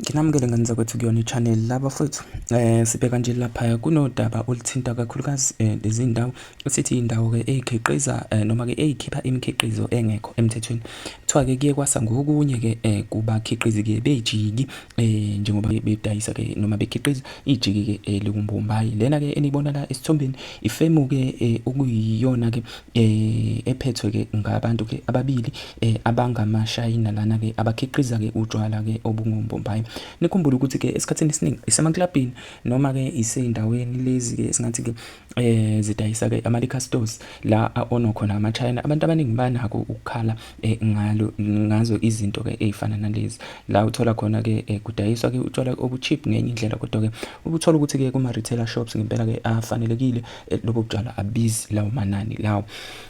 Nginamukele ngane zakwethu kuyona i-channel la bafowethu eh sibheka nje laphaya kunodaba oluthinta kakhulukazi eh, lezi ndawo esithi indawo-ke eyikhiqiza eh, noma-ke eyikhipha imikhiqizo engekho emthethweni kuthiwa-ke kuye kwasa ngokunye-ke eh, kubakhiqizi-ke bejiki eh, njengoba bedayisa-ke noma bekhiqiza ijiki-ke eh, liwumbombayi lena-ke eniyibona la esithombeni ifemu-ke eh, okuyiyona-ke eh, ephethwe-ke ngabantu-ke ababili eh abangamashayina lana ke abakhiqiza ke utshwala ke obungombombayi nikhumbule ukuthi ke esikhathini esiningi isemaklabhini noma ke isezindaweni lezi ke singathi ke eh zidayisa ke ama liquor stores la ono khona ama China abantu abaningi banako ukukhala eh, ngalo ngazo izinto ke ezifana nalezi la uthola khona ke eh, kudayiswa ke utshwala obucheap ngenye indlela kodwa ke ukuthola ukuthi ke kuma retailer shops ngempela ke afanelekile eh, lobo butshwala abizi lawo manani lawo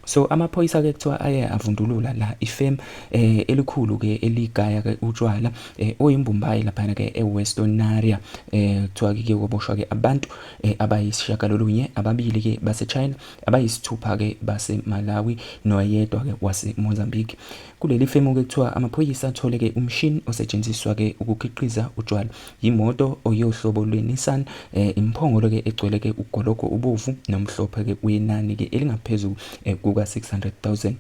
So amaphoyisa ke kuthiwa aye avundulula la ifem eh elikhulu ke eligaya ke utshwala eh oyimbumbayi lapha ke eWestonaria eh kuthiwa ke koboshwa ke abantu eh abayisishagalolunye ababili ke baseChina abayisithupha ke baseMalawi noyedwa ke waseMozambique kuleli femu ke kuthiwa amaphoyisa athole ke umshini osetshenziswa ke ukukhiqiza utshwala Yimoto oyohlobo lwe-Nissan eh, imphongolo ke egcwele ke ugologo ubovu nomhlophe ke uyenani ke elingaphezulu eh, kuka 600000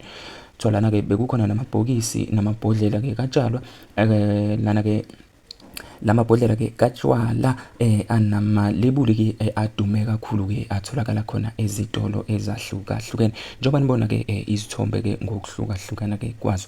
Thwalana ke bekukhona namabhokisi namabhodlela ke katshalwa eh, lana ke lamabhodlela ke katshwala eh anamalebuli ke eh, adume kakhulu ke atholakala khona ezitolo ezahlukahlukene njengoba nibona ke eh, izithombe ke ngokuhlukahlukana ke kwazo